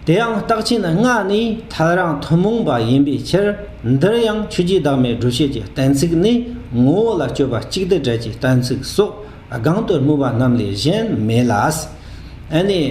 དེའང་རྟགས་ཕྱི་ནི་སྔགས་ནི་ཐལ་རང་ཐུན་མོང་པ་ཡིན་པའི་ཕྱིར། འདིར་ཡང་ཆོས་རྗེ་བདག་མེད་སྒྲུབ་བྱེད་ཀྱི་གཏན་ཚིགས་ནི་ངོ་བོ་ལ་སྤྱོད་པ་གཅིག་སྡུད་བྲལ་གྱི་གཏན་ཚིགས་སོགས་སྒང་དུ་སྨོས་པ་རྣམས་ལས་གཞན་མེད་ལ། ཨེ་ནས།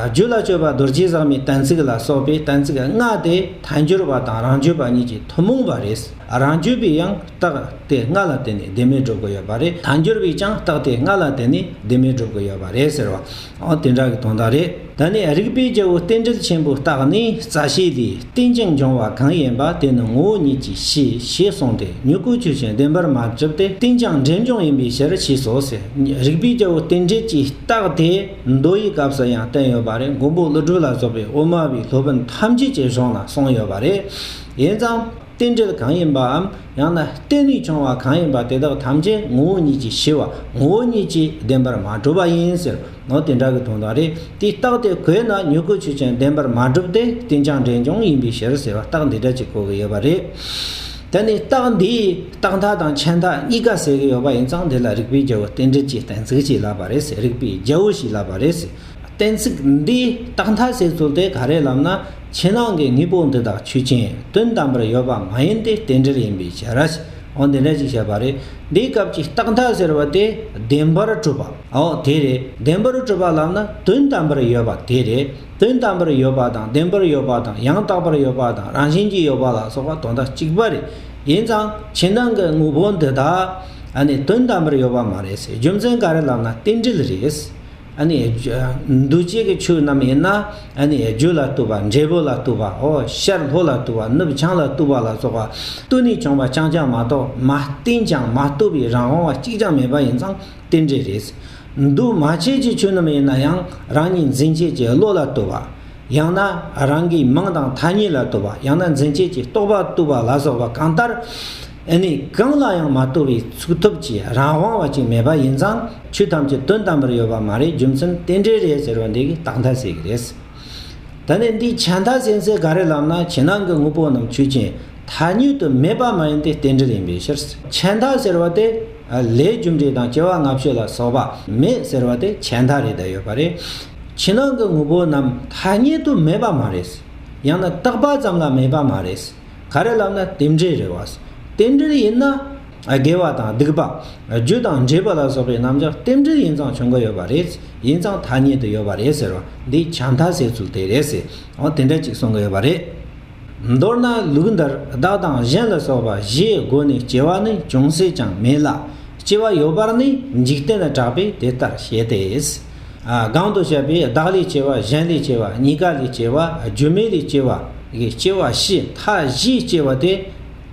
རྒྱུད་ལ་སྤྱོད་པ་རྡོ་རྗེ་བཟང་མའི་གཏན་ཚིགས་ལ་སོགས་པའི་གཏན་ཚིགས་ལྔ་དེ་དལ་འབྱོར་པ་དང་རང་བརྗོད་པ་གཉིས་ཀྱི་ཐུན་མོང་པ་རེད། རང་བརྗོད་པའི་ཡང་རྟགས་དེ་ལྔ་ལ་བརྟེན་ནས་བདེན་མེད་སྒྲུབ་དགོས་ཡོད་པ་རེད་དལ་འབྱོར་པའི་ཀྱང་རྟགས་དེ་ལྔ་ལ་བརྟེན་ནས་བདེན་མེད་སྒྲུབ་དགོས་ཡོད་པ་རེད་ཟེར་བ། ཨོ་དེ་འདྲ་གི་དོན་དག་རེད་ད་ནི་རིགས་པའི་རྒྱལ་པོ་རྟེན་འབྲེལ་ཆེན་པོའི་རྟགས་ནི་རྩ་ཤེས་ལས་རྟེན་ཅིང་འབྱུང་བ་གང་ཡིན་པ་དེ་ནི་ངོ་བོ་ཉིད་ཀྱི་ཕྱིར་ཞེས་གསུངས་ཏེ་མྱུ་གུ་ཆོས་ཅན་བདེན་པར་མ་གྲུབ་སྟེ་རྟེན་ཅིང་འབྲེལ་འབྱུང་ཡིན་པའི་ཕྱིར་ཞེས་སོགས་ཟེར་རིགས་པའི་རྒྱལ་པོ་རྟེན་འབྲེལ་གྱི་རྟགས་དེ་མདོ་ཡི་སྐབས་སུ་ཡང་བསྟན་ཡོད་པ་རེད་མགོན་པོ་ཀླུ་སྒྲུབ་ལ་སོགས་པའི་དབུ་མ་པའི་སློབ་དཔོན་ཐམས་ཅད་ཀྱི་གཞུང་ལ་གསུངས་ཡོད་པ་རེད་ཡིན་ཙང། རྟེན་འབྲེལ་གང་ཡིན་པའམ་ཡང་ན་རྟེན་རིགས་བྱུང་བ་གང་ཡིན་པ་དེ་དག་ཐམས་ཅད་ངོ་བོ་ཉིད་ཀྱིས་ཞི་བ་ངོ་བོ་ཉིད་ཀྱིས་བདེན་པར་མ་གྲུབ་པ་ཡིན་ཟེར་ནོ་དེ་འདྲ་གི་དོན་དག་རེད་དེ་རྟགས་དེ་གོས་ན་མྱུ་གུ་ཆུ་ཅན་བདེན་པར་མ་གྲུབ་སྟེ་རྟེན་ཀྱང་འབྲེལ་ཀྱང་ཡིན་པའི་ཕྱིར་ཟེར་བ་རྟགས་འདི་འདྲ་གཅིག་གོ་གི་ཡོད་པ་རེད། ད་ནི་རྟགས་འདིས་རྟགས་མཐའ་དང་ཁྱད་མཐའ་གཉིས་ཀ་ཟེར་གི་ཡོད་པ་ཡིན་ཙང་དེ་ལ་རིགས་པའི་རྒྱལ་པོ་རྟེན་འབྲེལ་གྱི་གཏན་ཚིགས་ཞིག་ལབ་པ་རེད་ཟེར་རིགས་པའི་རྒྱལ་པོ་ཞིག་ལབ་པ་རེད་ཟེར་གཏན་ཚིགས་འདིས་རྟགས་མཐའ་ཟེར་ཚུལ་དེ་ག་རེ་ལབ་ན། ཕྱི་ནང་གི་དངོས་པོ་འདི་དག་ཆོས་ཅན། དོན་དམ་པར་ཡོད་པ་མ་ཡིན་ཏེ་རྟེན་འབྲེལ་ཡིན་པའི་ཕྱིར། འོ་འདི་འདྲ་ཞིག་བཤད་པ་རེད། འདིའི་སྐབས་ཀྱི་རྟག་མཐའ་ཟེར་བ་དེ་བདེན་པར་གྲུབ་པ། འོ་དེ་རེད། བདེན་པར་གྲུབ་པ་ལབ་ན་དོན་དམ་པར་ཡོད་པ་དེ་རེད། དོན་དམ་པར་ཡོད་པ་དང་བདེན་པར་ཡོད་པ་དང་ཡང་དག་པར་ཡོད་པ་དང་རང་བཞིན་གྱིས་ཡོད་པ་ལ་སོགས་པ་དོན་དག་གཅིག་པ་རེད། ཡིན་ཙང་ཕྱི་ནང་གི་དངོས་པོ་འདི་དག། ནི་དོན་དམ་པར་ཡོད་པ་མ་རེད་ཟེར་རྒྱུ་མཚན་ག་རེ་ལབ་ན་རྟེན་འབྲེལ་རེད། འདུ་བྱེད་ཀྱི་ཆོས་རྣམས་ཡིན་ན། རྒྱུ་ལ་ལྟོས་པ་འབྲས་བུ་ལ་ལྟོས་པའོ། ཤར་ལྷོ་ལ་ལྟོས་པ་ནུབ་བྱང་ལ་ལྟོས་པ་ལ་སོགས་པ། ལྟོས་ནས་བྱུང་བ་རྐྱང་རྐྱང་མ་གཏོགས་མ་བསྟན་ཅིང་མ་ལྟོས་པའི་རང་དབང་བ་གཅིག་ཀྱང་མེད་པ་ཡིན་ཙང་རྟེན་འབྲེལ་རེད། འདུ་མ་བྱེད་ཀྱི་ཆོས་རྣམས་ཡིན་ན་ཡང་རང་ཉིད་འཛིན་བྱེད་ཀྱི་བློ་ལ་ལྟོས་པ། ཡང་ན་རང་གི་མིང་དང་ཐ་སྙད་ལ་ལྟོས་པ་ཡང་ན་འཛིན་བྱེད་ཀྱི་རྟོག་པ་ལྟོས་པ་ལ་སོགས་པ་གང་ལྟར། ཨེ་ནས་གང་ལ་ཡང་མ་ལྟོས་པའི་ཚུགས་ཐུབ་ཀྱི་རང་དབང་བ་ཅིག་མེད་པ་ཡིན་ཙང་ཆོས་ཐམས་ཅད་དོན་དམ་པར་ཡོད་པ་མ་རེད་རྒྱུ་མཚན་རྟེན་འབྲེལ་རེད་ཟེར་བ་འདི་གི་རྟགས་མཐའ་ཟེར་གི་རེད། ད་ནས་འདིའི་བྱ་མཐའ་ཟེར་ཚད་ག་རེ་ལབ་ན་བྱེད་ནང་གི་དངོས་པོ་རྣམས་ཆོས་ཅན་ཐ་སྙོད་དུ་མེད་པ་མ་ཡིན་ཏེ་རྟེན་འབྲེལ་ཡིན་པའི་ཕྱིར། བྱ་མཐའ་ཟེར་བ་དེ་ལས་རྒྱུ་འབྲས་དང་སྐྱེ་བ་ལྔ་བཤད་ལ་སོགས་པ་མེད་ཟེར་བ་དེ་བྱ་མཐའ་རེད་ད་ཡོད་པ་རེད། བྱེད་ནང་གི་དངོས་པོ་རྣམས་ཐ་སྙད་དུ་མེད་པ་མ་རེད། ཡང་ན་རྟག་པ་ཙམ་ལ་མེད་པ་མ་རེད། ག་རེ་ལབ་ན་དེ་འདྲའི་རེ་བ། རྟེན་འབྲེལ་ཡིན་ན། དགེ་བ་དང་སྡིག་པ། རྒྱུ་དང་འབྲས་བུ་ལ་སོགས་པའི་རྣམ་གཞག་རྟེན་འབྲེལ་ཡིན་ཙང་བྱུང་གི་ཡོད་པ་རེད། ཡིན་ཙང་ཐ་སྙད་དུ་ཡོད་པ་རེད་ཟེར་བ་འདི་བྱ་མཐའ་ཟེར་ཚུལ་དེ་རེད་ཟེར། དེ་འདྲ་གཅིག་གསུང་གི་ཡོད་པ་རེད། མདོར་ན་ལུགས་འདིར་བདག་དང་གཞན་ལ་སོགས་པ་བཞིའི་སྒོ་ནས་སྐྱེ་བ་ནི་ཅུང་ཟད་ཀྱང་མེད་ལ། སྐྱེ་བ་ཡོད་པར་ནི་འཇིག་རྟེན་ལ་གྲགས་པས་དེ་ལྟར་བཤད་དེ། གང་དུ་བཤད་པའི་བདག་ལས་སྐྱེ་བ་གཞན་ལས་སྐྱེ་བ་གཉིས་ཀ་ལས་སྐྱེ་བ་སྒྱུ་མའི་ལས་སྐྱེ་བ་ཡི་སྐྱེ་བ་བཞི་མཐའ་བཞིའི་སྐྱེ་བ་དེ་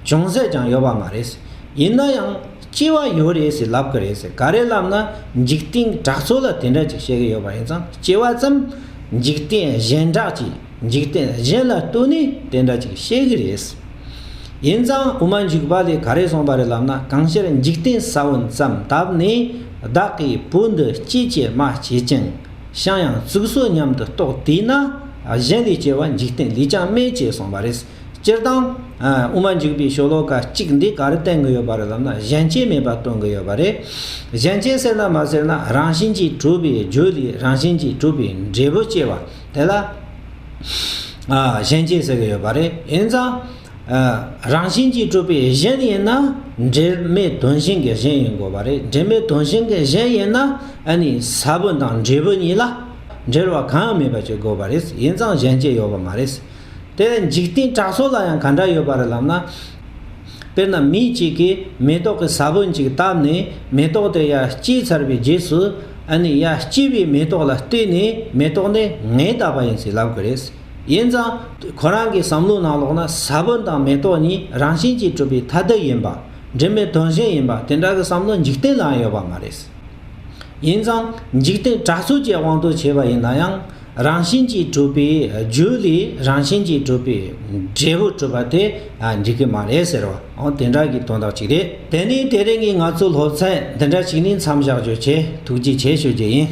ཅུང་ཟད་ཀྱང་ཡོད་པ་མ་རེད། ཡིན་ན་ཡང་སྐྱེ་བ་ཡོད་རེད་ཟེར་ལབ་གི་རེད། ག་རེ་ལབ་ན་འཇིག་རྟེན་གྲགས་ཚོགས་ལ་དེ་འདྲ་ཅིག་བཤད་གི་ཡོད་པ་ཡིན་ཙང་སྐྱེ་བ་ཙམ་འཇིག་རྟེན་གཞན་གྲགས་ཀྱི། འཇིག་རྟེན་གཞན་ལ་ལྟོས་ནས་དེ་འདྲ་ཅིག་བཤད་གི་རེད། ཡིན་ཙང་དབུ་མ་འཇུག་པ་ལས་ག་རེ་གསུངས་པ་རེད་ལབ་ན་གང་ཤར་འཇིག་རྟེན་ས་བོན་ཙམ་བཏབ་ནས་བདག་གིས་བུ་འདི་སྐྱིད་ཀྱི་མ་བྱེད་ཅིང་ཤང་ཡང་བཙུགས་སོ་སྙམ་དུ་རྟོགས་བསྡད་ན་གཞན་ལས་སྐྱེ་བ་འཇིག་རྟེན་ལས་ཀྱང་དམན་ཅེས་གསུངས་པ་རེད། སྤྱིར་བཏང། དབུ་མ་འཇུག་པའི་ཤོ་ལོ་ཀ་གཅིག་འདི་ག་རེ་བསྟན་གི་ཡོད་པ་རེད་ལབ་ན་གཞན་སྐྱེ་མེད་པ་སྟོན་གི་ཡོད་པ་རེད། གཞན་སྐྱེ་ཟེར་ན་མ་ཟེར་ན་རང་བཞིན་གྱིས་གྲུབ་པའི་རྒྱུ་ལས་རང་བཞིན་གྱིས་གྲུབ་པའི་འབྲས་བུ་སྐྱེ་བ། དེ་ལ་གཞན་སྐྱེ་ཟེར་གྱི་ཡོད་པ་རེད། ཡིན་ཙང། རང་བཞིན་གྱིས་གྲུབ་པའི་གཞན་ཡིན་ན། འབྲེལ་མེད་དོན་གཞན་གྱི་གཞན་ཡིན་དགོས་པ་རེད། འབྲེལ་མེད་དོན་གཞན་གྱི་གཞན་ཡིན་ན། ཨ་ནི་ས་བོན་དང་འབྲས་བུ་གཉིས་ལ། འབྲེལ་བ་གང་ཡང་མེད་པ་ཅིག་དགོས་པ་རེད། ཡིན་ཙང་གཞན་སྐྱེ་ཡོད་པ་མ་རེད། དེ་འཇིག་རྟེན་གྲགས་སོགས་ལ་ཡང་ག་འདྲ་ཡོད་པ་རེད་ལབ་ན། དཔེར་ན་མི་གཅིག་གིས་མེ་ཏོག་གི་ས་བོན་ཅིག་བཏབ་ནས་མེ་ཏོག་དེ་ཡར་སྐྱེས་ཚར་བའི་རྗེས་སུ། ཨ་ནི་ཡར་སྐྱེས་པའི་མེ་ཏོག་ལ་བལྟས་ནས་མེ་ཏོག་འདི་ངས་བཏབ་པ་ཡིན་ཟེར་ལབ་གི་རེད། ཡིན་ཙང། ཁོ་རང་གི་བསམ་བློའི་ནང་ལོགས་ན་ས་བོན་དང་མེ་ཏོག་གཉིས་རང་བཞིན་གྱིས་གྲུབ་པའི་ཐ་དད་ཡིན་པ། འབྲེལ་མེད་དོན་གཞན་ཡིན་པ་དེ་འདྲ་གི་བསམ་བློ་འཇིག་རྟེན་ལའང་ཡོད་པ་མ་རེད། ཡིན་ཙང་འཇིག་རྟེན་གྲགས་ཚོད་ཀྱི་དབང་དུ་བྱས་པ་ཡིན་ན་ཡང་རང་བཞིན་གྱིས་གྲུབ་པའི་རྒྱུ་ལས་རང་བཞིན་གྱིས་གྲུབ་པའི་འབྲས་བུ་གྲུབ་པ་དེ་འགྲིག་གི་མ་རེད་ཟེར་བའང་དེ་འདྲ་གི་དོན་དག་ཅིག་རེད། དེ་ནི་དེ་རིང་གི་ང་ཚོའི་སློབ་ཚན་འདི་འདྲ་ཞིག་ནས་མཚམས་བཞག་རྒྱུ་བྱས་ཐུགས་རྗེ་ཆེ་ཞུ་རྒྱུ་ཡིན།